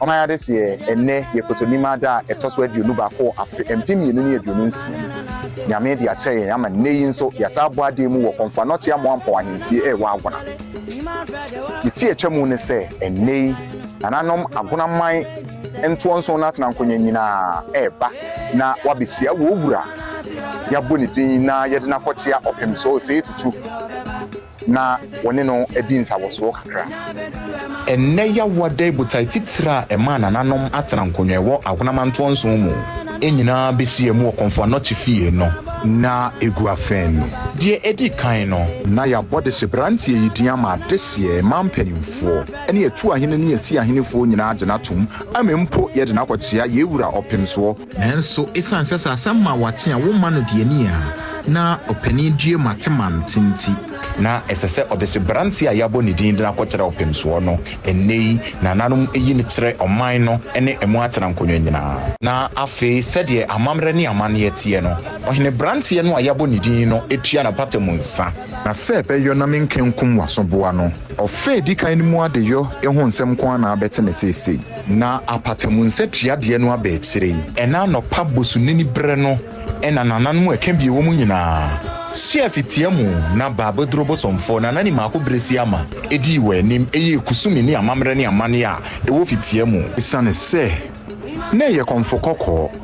Ɔman Adesua ɛ, Ɛnnɛ yɛ Kotonim Ada a ɛtɔ so aduonu baako wɔ afe mpem mmienu ne aduonu nsia mu. Nyame de akyɛ yɛn ama nnɛ yi nso yɛasan abɔ aden mu wɔ Kɔmfoa Nɔte Amoampɔn Ahemfie ɛ wɔ Agona. Ne ti a ɛtwa mu ne sɛ ɛnnɛ yi Nananom Agona man ntoɔ nson no atena nkonya nyinaa ɛreba na wɔabehyia wɔ Owura a yɛabɔ ne din na yɛde no akɔkyea ɔpem so, Osei Tutu. na wɔne no adi nsawɔsoɔ kakra. Ɛnnɛ Yawada botae titire a ɛmaa nananom atena nkonnwa wɔ ahonamantoɔ nson mu nyinaa bɛhyiam wɔ Komfo Anokye fie no. Na ɛgu afɛn no. Deɛ ɛdi kan no, na yɛabɔ dehyeberanteɛ yi din ama adehyeɛ mmaa mpanimfoɔ ne atuahene ne asiahenefoɔ nyinaa agye no atom, ama mpo yɛde no akɔkyea yɛn wura Ɔpemsoɔ, Nanso esiane sɛ sɛ asɛm ma wakye a womma no deɛ ani a na ɔpanin due ma te mante nti, na ɛsɛ sɛ ɔde hyɛ beranteɛ a yɛabɔ ne din de no akɔkyerɛ ɔpemsoɔ no, ɛnnɛ yi nananom yi no kyerɛ ɔman no ne ɛmu atenankonnwa nyinaa. Na afei sɛdeɛ amammerɛ ne amanneɛ teɛ no, ɔhene beranteɛ no a yɛabɔ ne din no tua n'apata mu nsa. Na sɛ ɛbɛyɔ na menka nkum w'asoboa no. Ɔfã a ɛdi kan no mu adeyɔ ho nsɛm nko ara na abɛte me seesei. Na apata mu nsa tua deɛ no aba akyire yi. Ɛna anɔpa bosonini berɛ no na nananom ɛka bie wɔ mu nyinaa hyɛɛ fitia mu na baa bɛduruu bosomfoɔ nanani mako berɛ si ama ɛdii wɔn anim ɛyɛɛ kusumi ne amammerɛ ne amanneɛ a ɛwɔ fitia mu. Ɛsiane sɛ na ɛyɛ kɔmfo kɔkɔɔ.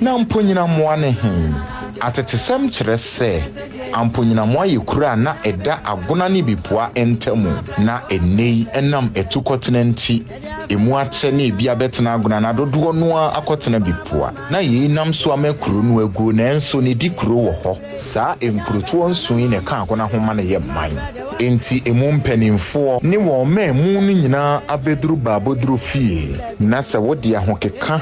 Na Amponyinamoa ne he? Atetesɛm kyerɛ sɛ Amponyinamoa yɛ kuro a na ɛda Agona ne Bipua ntamu, na nnɛyi ɛnam atukɔtena nti emu akyɛ na ebi abɛtena Agona na dodoɔ no ara akɔtena Bipua. Na yei nam so ama kuro no aguo nanso ne di kuro wɔ hɔ. Saa nkurotoɔ nson yi na ɛka Agona ho ma no yɛ man. Enti emu mpaninfoɔ ne wɔn mmamu no nyinaa abɛduru Baaboduro fie. Na sɛ wode ahokeka.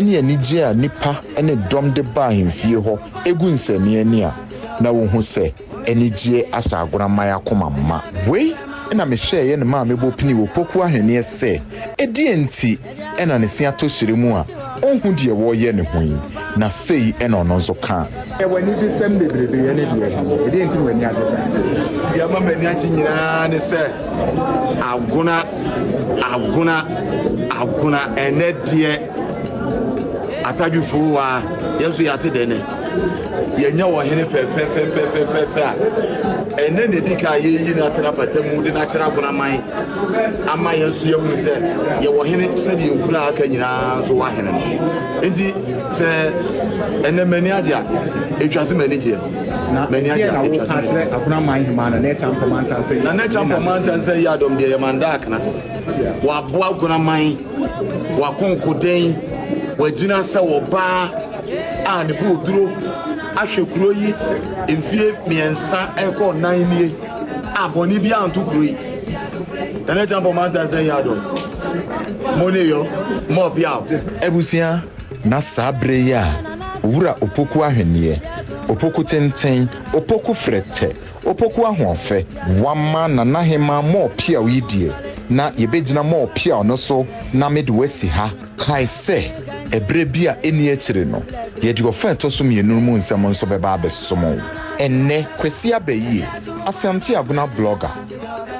ne anigye a nnipa ne dɔm de ba ahemfie hɔ gu nsɛnneani a, na wohu sɛ anigyeɛ ahyɛ agoramman akoma ma. Wei na mehwɛeɛ ne maa mebɔ pini wɔ Poku ahweneɛ sɛ, ɛdeɛn nti na ne se atɔ hyerɛ mu a ɔnhu deɛ wɔreyɛ ne ho yi, na sei na ɔno nso kaa. Yɛ w'anigyesɛm bebrebe yɛ ne deɛ ɛho. Ɛdeɛn nti na w'ani agye saa? Deɛ ɛma m'ani agye nyinaa ne sɛ agona agona agona ɛnɛ deɛ atadwifoo wa yɛn nso yɛate dɛ nɛ yɛnyɛ wɔ hene fɛfɛfɛfɛfɛfɛ a ɛnɛ na ɛdi ka a yɛyi no atena pata mu de no akyerɛ agona man ama yɛn nso yɛhunu sɛ yɛwɔ hene sɛdeɛ nkura aka nyinaa nso wɔ ahene no nti Sɛ ɛnɛ m'ani agye a, etwa se m'ani gyeɛ. Na m'ani agye a, etwa se m'ani gyeɛ. Agunaman hemaa na n'ɛkya mpɔ mantansa yi. Na n'ɛkya mpɔ mantansa yi adɔm deɛ yɛ mandaakena. Wɔaboa agunaman, wɔakonkoden, wɔagyina sɛ ɔbaa a ne bo duro ahwɛ kuro yi mfie mmiɛnsa ɛkɔ nnan nie a bɔne bi anto kuro yi. Na n'ɛkya mpɔ mantansa yi adɔm. Mo ne yɔ, mo ɔbea o. Abusua Na saa berɛ yi a Owura Opoku ahweneɛ, Opoku tenten, Opoku frɛtɛ, Opoku ahoɔfɛ, Wama Nana Hemaa mall piaw yi deɛ na yɛbɛgyina mall piaw no so na mede wo asi ha. Kae sɛ ɛberɛ bi a ɛnni akyire no yɛde ɔfa a ɛtɔ so mmienu no mu nsɛm nso bɛba abɛsom wo. Ɛnnɛ, Kwasi Abɛyie, Asante Agona blogger,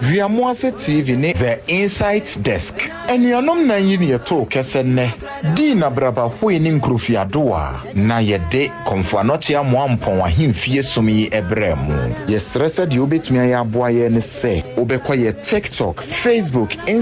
Wia Moase TV ne. The Insight Desk, Anuanom nan yi na yɛtoo kɛsɛ nnɛ. Dii na braba hoe ne nkurofiadowa na yɛde Kɔmfo Anɔkye Amoa Mpɔn Ahemfie som yi brɛɛ mo. Yɛsrɛ sɛ deɛ wobɛtumi ayɛ aboa yɛn ne sɛ wobɛkɔ yɛ TikTok, Facebook, Instagram,